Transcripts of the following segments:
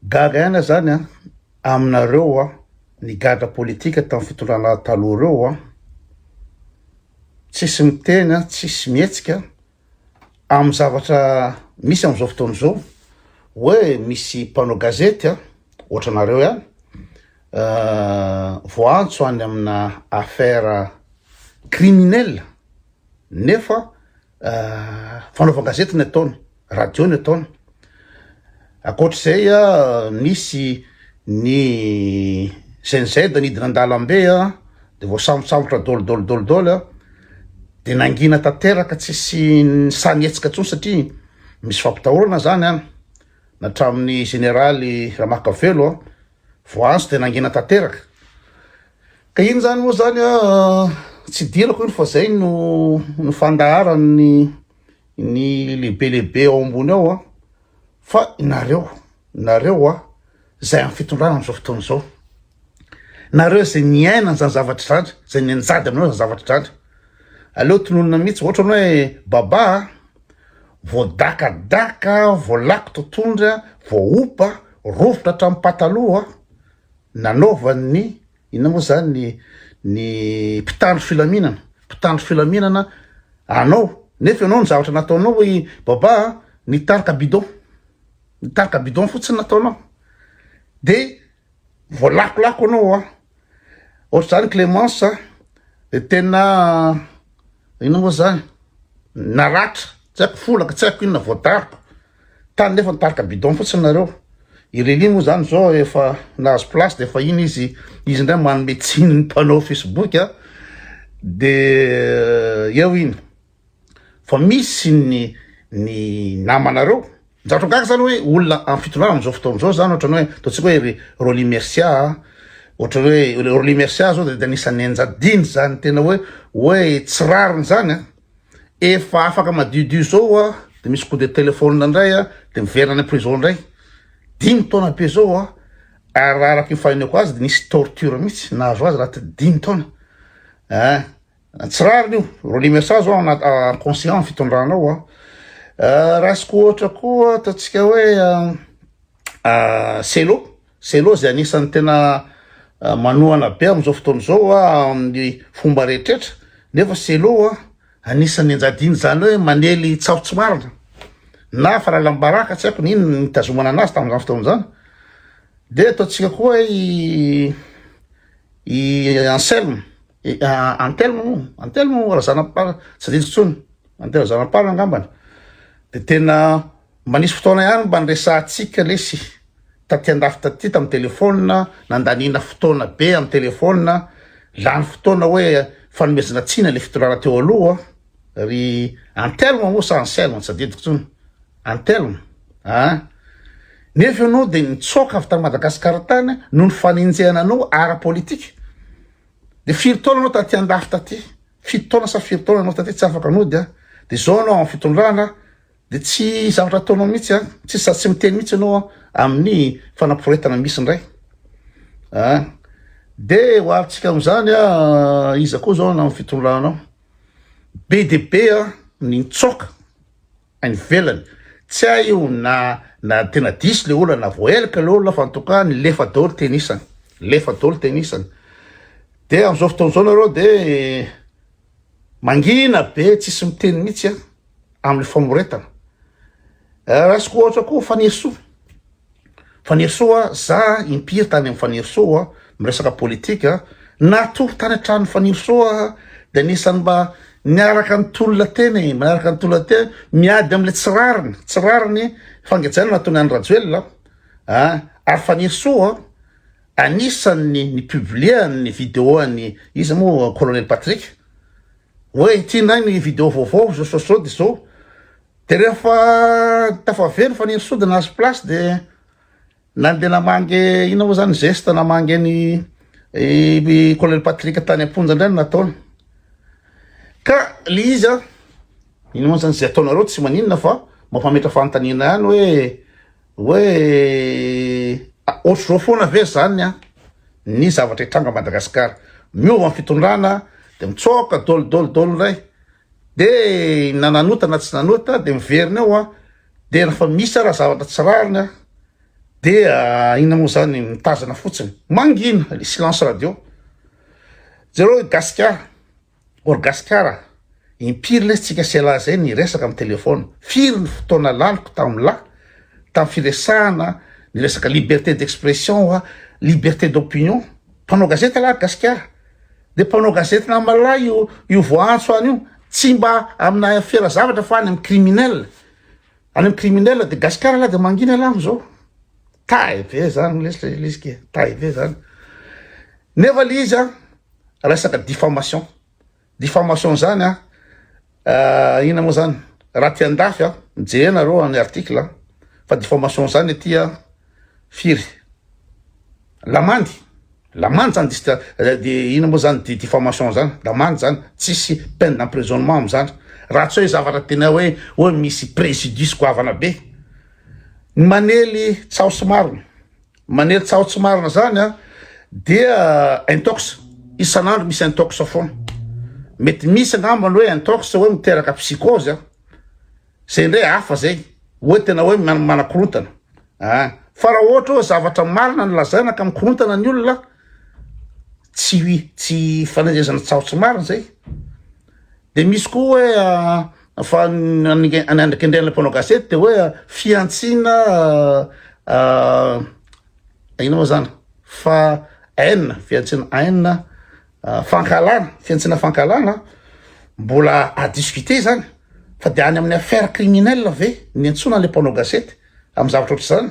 Gaga ihany zany an aminareo an nigadra politika tam fitondrana taloha reo an tsisy miteny an tsisy mihetsika am zavatra misy amzao fotoana zao oe misy mpanao gazety an otranareo ihany voaantso any amina affaire criminel nefa Fanaovan-gazety ny ataony, radio ny ataony. Ankoatr'izay, misy ny GNZ nidina an-dalambe dia voasambotsambotra dol dol dol dol, dia nangina tanteraka tsisy sahy nihetsika intsony satria misy fampitahorana izany an, hatramin'ny Jeneraly Ramakavelo. Voaantso dia nangina tanteraka. Ka iny zany moa zany tsy idirako iny fa zay no no fandaharan'ny ny lehibe lehibe ao ambony ao a fa nareo nareo a zay amin'ny fitondrana amin'izao fotoana izao nareo izay niaina an'izany zavatra zany izay nianjady aminareo zany zavatra zany aleo tononina mihitsy ohatra ny hoe baba Voadakadaka, voalako totohondry, voahopa, rovitra hatramin'ny pataloha nanaovan'ny inona moa izany ny mpitandro filaminana, mpitandro filaminana anao nefa ianao ny zavatra nataonao hoe baba nitarika bidon, nitarika bidon fotsiny nataonao dia voalakolako anao Ohatr'izany Clémence a, dia tena inona moa izany, naratra, tsy haiko folaka, tsy haiko inona voatarika, tany nefa nitarika bidon fotsiny nareo. I Reli moa izany izao efa nahazo place dia efa iny izy, izy indray manome tsiny ny mpanao Facebook a, dia eo iny. fa misy ny ny namanareo njato gaga zany hoe olona am fitondrana amzao fotoana zao zany ohatrany hoe ataontsika hoe ry Rolly Mercia a ohatrany hoe Rolly Mercia zao de anisan'ny anjadiny zany tena hoe hoe tsy rariny zany a efa afaka madiodio zao a de misy coup de téléphone indray a de miverina any prison indray dimy taona be zao a ary raha araka ny faheneko azy de nisy torture mihitsy nahazo azy raha ty dimy taona a Tsy rariny io, relie message ho an conscient fitondranao a. Ah, raisiko ohatra koa ataontsika hoe ah, ah, selo, selo izay anisan'ny tena ah, manohana be amin'izao fotoana izao a amin'ny fomba rehetrretra, nefa selo a anisan'ny anjadiana izany hoe manely tsaho tsy marina na falalam-baraka tsy haiko n'inona ny nitazomana anazy tamin'izany fotoana izany. Dia ataontsika koa i i Anselme Antelmo moa, Antelmo Razanampara, tsy adidiko intsony, Antelmo Razanampara angambany, dia tena manisy fotoana ihany mba niresahantsika lesy taty andafy taty tamin'ny telefaonina, nandaniana fotoana be amin'ny telefaonina, lany fotoana hoe fanomezana tsiny ilay fitondrana teo aloha, ry Antelmo moa sa Anselmo, tsy adidiko intsony, Antelmo, ah, nefa ianao dia nitsoaka avy tany Madagasikara tany noho ny fanenjehana anao ara-politika, Dia firy taona anao taty andafy taty? Fito taona sa firy taona anao taty tsy afaka nody a? Dia izao anao amin'ny fitondrana dia tsy zavatra ataonao mihitsy a? Tsy sady tsy miteny mihitsy anao amin'ny fanaporetana misy indray. Ah. Dia ho avintsika amin'izany a iza koa izao na amin'ny fitondranao? Be dia be a ny nitsoaka any ivelany tsy hay io na na tena diso le olona na voaelaka le olona fa en tout cas nilefa daholo teny isany lefa daholo teny isany de am'izao fotoana izao nareo de mangina be tsisy miteny mihitsy a am'le famoretana eh, raisiko ohatra koa fanesoa Fanirisoa, za impiry tany amin'ny Fanirisoa miresaka politika, natory tany an-tranon'i Fanirisoa aho dia anisan'ny mba niaraka nitolona teny e, niaraka nitolona teny miady amin'ilay tsy rariny, tsy rariny fangejana nataony an'i Rajoelina a, ary Fanirisoa anisan'ny ni-publier-ny vidéo-ny iza moa Colonel Patrick hoe ity indray ny vidéo vaovao izao izao izao dia izao, Dia rehefa tafavero fa nino sodina azy place dia nandeha namangy ina moa zany zeste namangy ny colonel Patrick tany am-ponja indray no nataony ka le izy a ino moa zany izay ataonareo tsy maninona fa mampametra fanontaniana ihany hoe hoe ohatr'izao foana ve zany a ny zavatra hitranga Madagasikara miova ny fitondrana dia mitsoaka dolo dolo dolo indray De na nanota na tsy nanota de miverina eo an, de refa misy ara zavatra tsy rariny an de inona moa zany mitazana fotsiny, mangina le silence radio, jereo i gasikara or gasikara impiry lesy tsika sy elah zay niresaka am telephone, firy ny fotoana laniko tam la tam firesahana ny resaka liberté d'expression oa liberté d'opinion, mpanao gazety elah gasikara. Dia mpanao gazety na malala io io voaantso any io tsy mba amina fiera zavatra fa any amin'ny criminel any amin'ny criminel dia gasikara lahy dia mangina lahy amin'izao tahy be zany lesy le lesy ke tahy be zany nefa le izy a resaka diffamation diffamation zany a euh, ina moa zany raha ty andafy a mijehenareo any article fa diffamation zany aty a firy lamandy Lamandy zany dist de ina moa zany diffamation zany lamandy zany tsisy peine d'emprisonnement amzany raha tsy hoe zavatra tena hoe hoe misy préjudice goavana be ny manely tsaho tsy marina manely tsaho tsy marina zany a dia intox isan'andro misy intox foana mety misy angambany hoe intox hoe miteraka psychose a Zay ndray hafa zay oe tena oe manakorontana ah fa raha ohatra oe zavatra marina no lazaina ka mikorontana ny olona tsy ui tsy fanenjehezana tsaho tsy marina zay de misy koa oe fa ny andrakendrehan'ilay mpanao gazety de oe fihantsiana ah ino moa zany fa haine fihantsiana haine fankahalana, fihantsiana fankahalana, mbola à discuter izany, fa dia any amin'ny affaire criminelle ve ny iantsoana ilay mpanao gazety amin'ny zavatra ohatr'izany?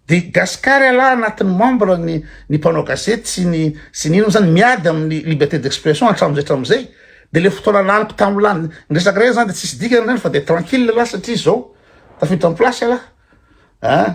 Dia Gascar ialahy anatin'ny membre ny ny mpanao gazety sy ny sy ny inona izany miady amin'ny liberté d'expression hatramin'izay hatramin'izay, dia ilay fotoana laniko tamin'ny lan- ny resaka iray izany dia tsisy dikany izany fa dia tranquille ialahy satria izao, tafiditra am-plasy ialahy an!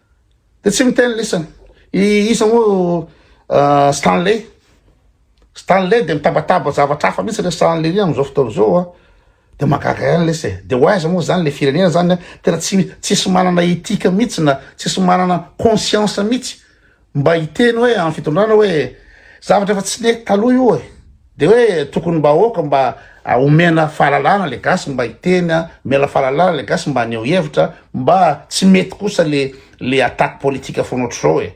Dia tsy miteny lisa. I iza moa Stanley. Stanley dia mitabataba zavatra hafa mihitsy le Stanley ry amin'izao fotoana izao a. Dia mahagaga ihany lesa e. Dia ho aiza moa zany le firenena zany a. Tena tsy tsisy manana éthique mihitsy na tsisy manana conscience mihitsy mba hiteny hoe amin'ny fitondrana hoe zavatra efa tsy nety taloha io e. De hoe tokony mba aoka mba omena fahalalana le gasy mba hiteny a, omena fahalalana le gasy mba haneho hevitra, mba tsy mety kosa le le attaque politique foana ohatr'izao e,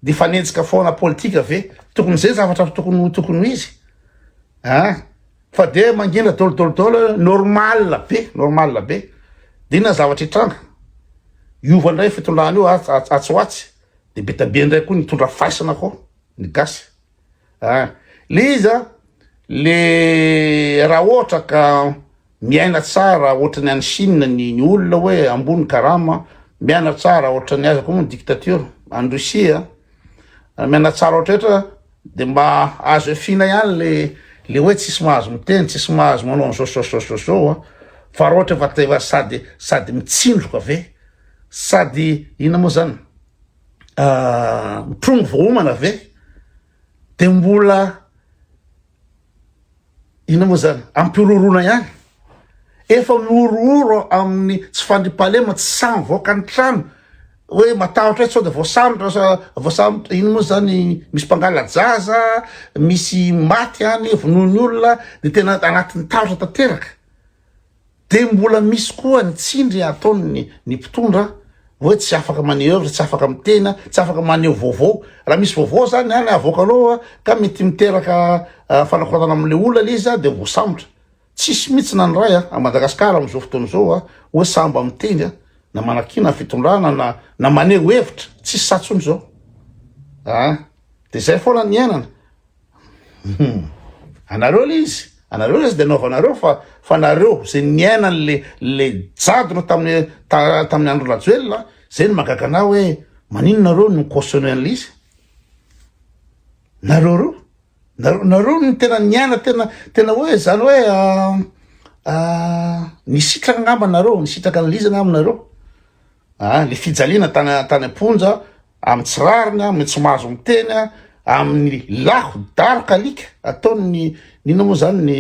de fanenjika foana politika ve, tokony zay zavatra tokony ho tokony ho izy a, fa de mangina dol dol dol normal be normal be, de inona ny zavatra hitranga, hiova ndray fitondrana io atsy ho atsy, de be dia be ndray koa ny hitondra faisana koa ny gasy. ah le izy a le raha ohatra ka miaina tsara ohatran'ny any Chine ny ny olona hoe ambony karama miaina tsara ohatran'ny aza koa moa dictature any Russie a miaina tsara ohatretra de mba azo efina ihany le le hoe tsisy mahazo miteny tsisy mahazo manao an'izao zao zao zao zao a fa raha ohatra efa teva sady sady mitsindroka ve sady ina moa zany mitrongy voahomana ve de mbola ina moa zany ampihorohorona ihany efa mihorohoro amin'ny tsy fandriam-pahalema tsy samy voaka ny trano hoe matahotra hoe sao de voasambotra sa voasambotra ina moa zany misy mpangala-jaza misy maty any vonoin'ny olona de tena anatin'ny tahotra tanteraka Dia mbola misy koa ny tsindry ataony ny ny mpitondra hoe tsy afaka maneuvre, tsy afaka miteny, tsy afaka maneho vaovao. Raha misy vaovao zany any avoakanao ka mety miteraka fanakorotana amin'ilay olona ilay izy dia voasambotra. Tsisy mihitsy na ny iray a Madagascar amin'izao fotoana izao a hoe sahy mba miteny a, na manakiana ny fitondrana na na maneho hevitra, tsisy sa tsony izao a. Dia izay foana ny iainana. Hum. Anareo le izy. Anareo le izy de anaovanareo fa fa nareo ze niainan le le jadona taminy ta taminy andro Rajoelina ze no magaga anah hoe manino nareo no cautionne anle izy. Nareo reo nareo nareo no tena niaina tena tena hoe zany hoe ah ah nisitraka angamba nareo nisitraka anle izy angamba nareo ah le fijaliana tany tany amponja amin'ny tsy rariny, amin'ny tsy mahazo miteny, amin'ny laho daroka alika ataon'ny inona moa izany ny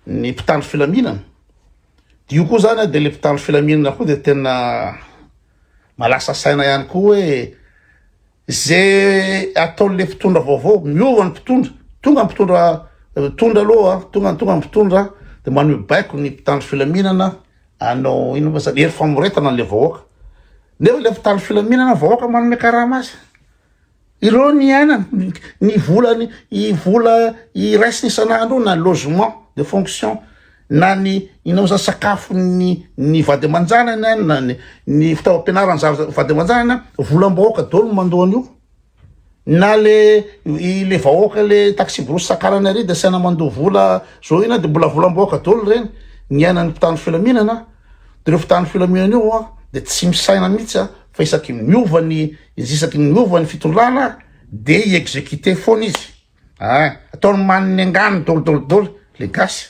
ny mpitandro filaminana. Dia io koa izany dia ilay mpitandro filaminana koa dia tena malasa saina ihany koa hoe izay ataon'ilay mpitondra vaovao, miova ny mpitondra, tonga ny mpitondra mitondra aloha, tonga tonga ny mpitondra dia maneho baiko ny mpitandro filaminana Hanao inona moa zany? Hery famoretana an'ilay vahoaka. Nefa ilay mpitandro filaminana vahoaka manome karama azy. Ireo ny iainana, ny- ny vola ny i vola iraisiny isan'andro io na logement de fonction na ny inao zany sakafon'ny ny vady aman-janany any na ny ny fitaovam-pianarana zava- vady aman-janany any, volam-bahoaka daholo no mandoa an'io. Na le le vahoaka le taxi-brousse sakalany ary de asaina mandoa vola zao ina de mbola volam-bahoaka dolo reny niainan'ny mpitandro filaminana de reo mpitandro filaminana io an de tsy misaina mihitsy an fa isaky ny miova ny isaky ny miova ny fitondrana de i exécuté foana izy ah ataony maniny angano dolo dolo dolo le gasy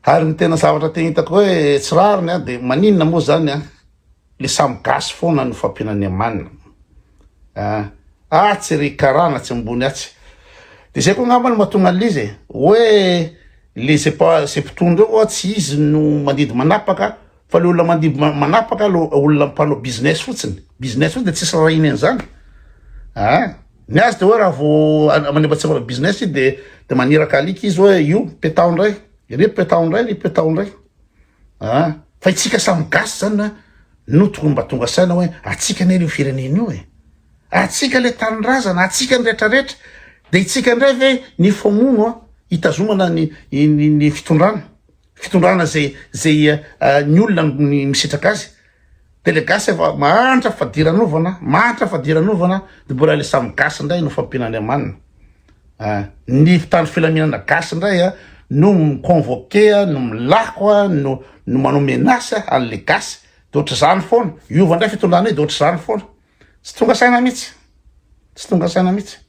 ary ny tena zavatra te hitako hoe tsy rariny an de maninona moa zany an Le samy gasy foana no fampianan'ny amanina ah. Atsy ry karana atsy ambony atsy de zay ko angamba no mahatonga an'izy e hoe le zay pa zay mpitondra eo oa tsy izy no mandidy manapaka fa le olona mandidy ma- manapaka lo olona mpanao business fotsiny business fotsiny de tsisy rarahiny an'izany ah ny azy de hoe raha vao an- manebatseva manao business izy de de maniraka alika izy hoe io petaho ndray ry petaho ndray ry petaho ndray an! fa itsika samy gasy zany na no tokony mba tonga saina hoe atsika anie io firenena io e atsika le tanindrazana atsika ny retraretra de itsika indray ve ny fomono a hitazomana ny ny fitondrana fitondrana zay zay ny olona ny misitraka azy Tele gasy efa mahantra fadiranovana, mahantra fadiranovana de mbola le samy gasy indray no fampian'Andriamanina. Ah, ny mpitandro filaminana gasy indray ah, no mi-convoquer ah, no milako ah, no no manao menace ah, an'le gasy. De ohatr'izany foana. Hiova indray fitondrana io de ohatr'izany foana. Tsy tonga saina mihitsy. Tsy tonga saina mihitsy.